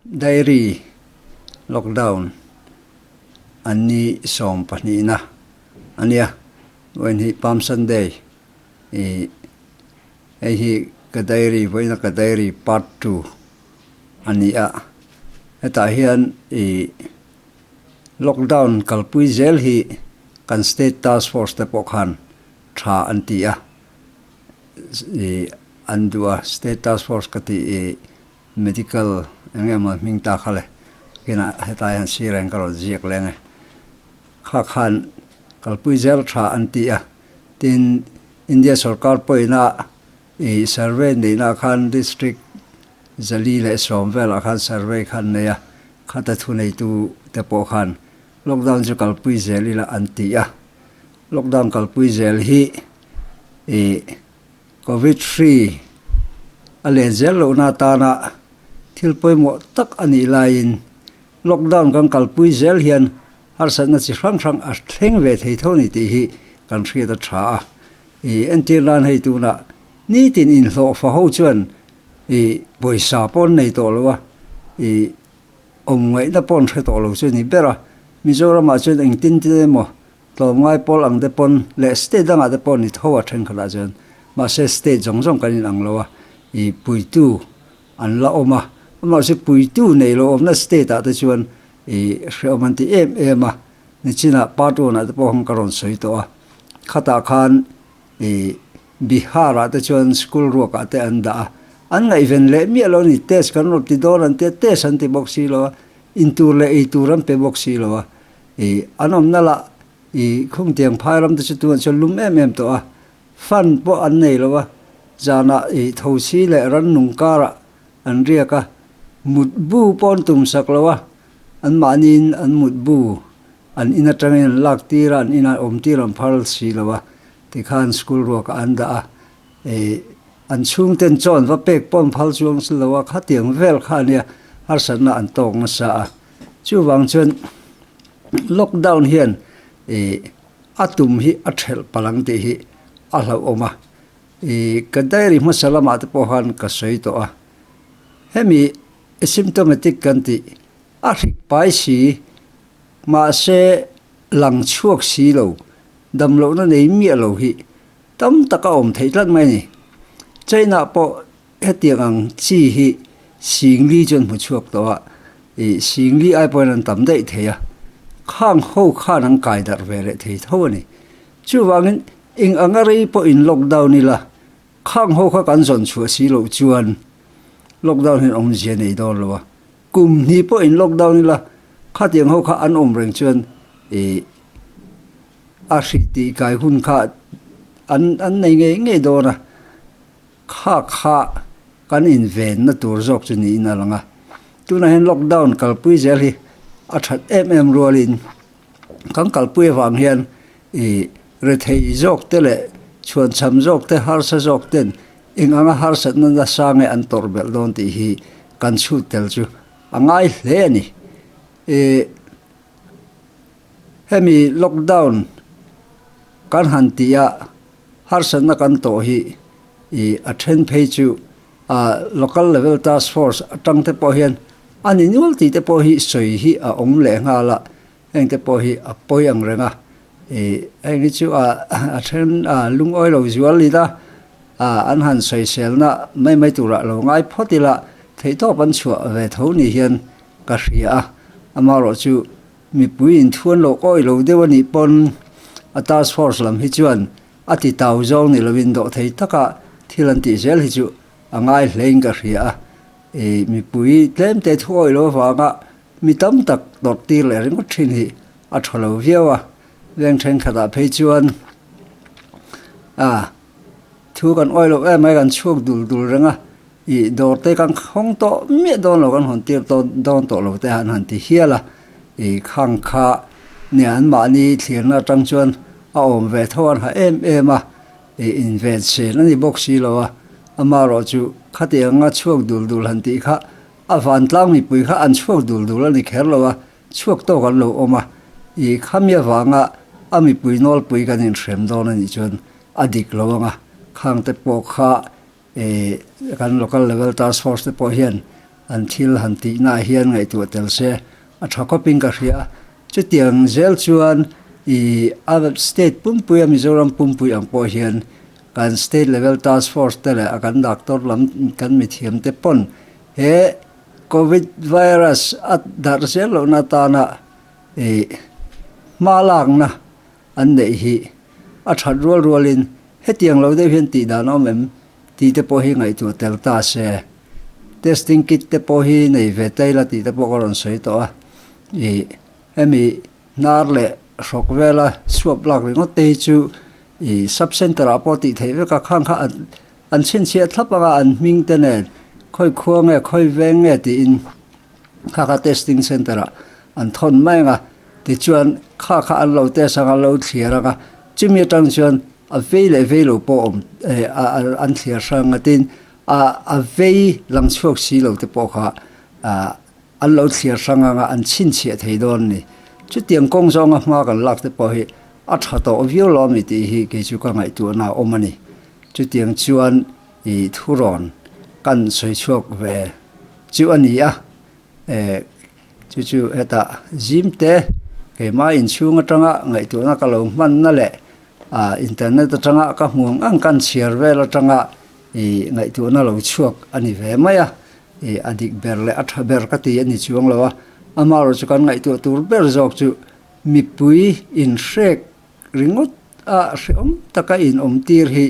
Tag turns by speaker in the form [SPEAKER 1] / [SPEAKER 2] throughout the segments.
[SPEAKER 1] Diary, Lockdown an ni sawm pahnihna a nia. Vawiin hi Palm Sunday i hei hi ka diary vawiina ka diary part two a ni a. Hetah hian i lockdown kalpui zel hi kan state task force te pawh khan tha an ti a. i an duh a, State Task Force ka tih i medical eng nge maw hming ta kha le kina heta hian sir hian ka rawn ziak leng e kha khan kalpui zel tha an ti a tin India sorkar pawina i survey neihna khan district zali leh sawm velah khan survey khan nei a khata thuneitu te pawh khan Lockdown chu kalpui zel ila an ti a, lockdown kalpui zel hi ih covid hri a len zel lohna atana thil pawimawh tak a nih laiin lockdown kan kalpui zel hian harsatna chi hrang hrang a thleng ve thei tho ni tih hi kan hriat a tha a. Ih entir nan hei tuna nitin inhlawh fa ho chuan ih pawisa paw'n nei tawh lo a, ih awm ngaihna paw'n hre tawh lo chu a nih ber a, Mizoramah chuan eng tin tin emaw tlawmngai pawl ang te pawn leh state dangah te pawh ni tho a thenkhatah chuan mahse state zawng zawng kan inang lo a, i puitu an la awm a, amahse puitu nei lo awmna state ah te chuan i hreawm an ti em em a, nichinah part one ah te pawh hawng ka rawn sawi tawh a, khatah khan i. Bihar-ah te chuan school ruakah te an dah a, an ngaihven leh miah lo a ni, test kan rawh ti dawn an tia, test an ti bawk si lo a, intur leh eitur an pe bawk si lo a, i an awmna lah i Khungtiang phai ram te chu tunah chuan lum em em tawh a, fan pawh an nei lo a, zanah i thosi leh rannung karah an riak a, mut bu pawh an tum sak lo a, an mahniin an mut bu an in atangin an lak tir a, an inah awm tir an phar si lo a, Tikhan school ruakah an dah a, ih, an chhungten chuan va pek pawn phal chuang si lo a, khatiang vel kha ania harsatna an tawk nasa a. Chuvang chuan lockdown hian, ih, a tum hi a ṭhelh palh ang tih hi a hlauhawm a. Ih, ka diary hmasa lamah te pawh khan ka sawi tawh a, hemi asymptomatic kan tih a hrik pai si, mahse lang chhuak si lo Damlohna nei miah lo hi tam tak a awm theih tlat mai a ni. China pawh hetiang ang chi hi Singli chuan hmu chhuak tawh a, ih, Singli ai pawhin an tam daih thei a, khang ho khan an kai darh ve leh thei tho a ni. Chuvangin eng ang a rei pawhin lockdown ila, khang ho kha kan zawn chhuah si loh chuan lockdown hi an awmzia nei dawn lo a, Kum hnih pawh in lockdown ila khatiang ho kha an awm reng chuan ih a hrilh tih kai hun kha an an nei ngei ngei dawn a, kha kha kan invenna tur zawk chu niin a lang a. Tunah hian lockdown kalpui zel hi a that em em rualin kan kalpui avang hian, I rethei zawk te leh chhuan chham zawk te harsa zawk ten eng anga harsatna nasa nge an tawrh belh dawn tih hi kan chhut tel chu a ngai hle a ni. I hemi lockdown kan han tih a harsatna kan tawh hi i a then phei chu a local level task force atang te pawh hian a ni nual tih te pawh hi sawi hi a awm leh nghal a. Heng te pawh hi a pawi ang reng a, heng hi chu a then a lungawi lo zual ni ta, an han sawiselna mai mai turah lo ngai phawt ila theihtawp an chhuah ve tho nih hian ka hria a, amaherawh chu mipui inthuan loh kawi lo deuh anih pawn a task force lam hi chuan a ti tau zawng ni lovin dawh thei taka thil an tih zel hi chu a ngai hlein ka hria a, mipui tlemte thu awih loh avanga Mi tam tak tawrhtir leh ringawt thin hi a thaw lo viau a, veng thenkhatah phei chuan a, thu kan awih loh em mai kan chhuak dul dul reng a, i dawr te kan khawng tawh miah dawn lo kan hawn tir tawn dawn tawh lo te han han ti hial a, i khang kha nia an mahni thlirna atang chuan a awm ve tho an ha em em a, i inven chen a ni bawk si lo a, amarawh chu khati anga chhuak dul dul han tih kha A vantlang mipui kha an chhuak dul dul a ni kher lo a, chhuak tawk an lo awm a, i khami avanga a mipui nawlpui kan inhrem dawn a nih chuan a dik lo ang a, khangte pawh kha e kan local level task force te pawh hian an thil han tihnaah hian ngaihtuah tel se a tha khawpin ka hria, chutiang zel chuan i a state pumpuia Mizoram pumpui ang pawh hian Kan state level task force te leh a kan doctor lam kan mithiam te pawn he covid virus a darh zel lohna atana ih hma lakna an neih hi a that rual rual in hetiang lo deuh hian tih dan a awm em tih te pawh hi ngaihtuah tel ta se. Testing kit te pawh hi nei ve taila tih te pawh ka rawn sawi tawh a ih. Hemi hnar leh hrawk vela chhuap lak ringawt te hi chu i Sub-Centre ah pawh tih theih vek a, khang kha an chhinchhiah thlap ang a, an hming te nen khawi khua nge, khawi veng nge tiin kha kha Testing Centre ah an thawn mai ang a, tichuan kha kha an lo test ang, an lo thliar ang a, chumi atang chuan a vei leh vei lo pawh awm an thliar hrang a, tin a vei lang chhuak si lo te pawh kha An lo chhiar hrang ang a, an chhinchhiah thei dawn a ni. Chutiang kawng zawnga hma kan lak te pawh hi a tha tawh viau lo ami tih hi kei chu ka ngaihtuahna a awm a ni. Chutiang chuan i thu rawn kan sawi chhuak ve chu a ni a, chu chu heta zim te keimah inchhung atanga ngaihtuahna ka lo hmanna leh internet atanga ka hmuang ang kan chhiar vel atanga i ngaihtuahna lo chhuak a ni ve mai a. E a dik ber leh a tha ber ka ti a ni chuang lo a, amaherawh chu kan ngaihtuah tur ber zawk chu mipui inhrek ringawt a hreawm taka inawmtir hi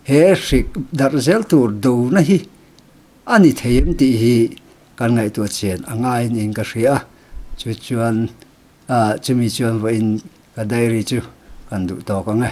[SPEAKER 1] he hrik darh zel tur dona hi a ni thei em tih hi kan ngaihtuah chian a ngaiin in ka hria a, chu chuan a chumi chuan vawiin ka diary chu kan duh tawk ang e.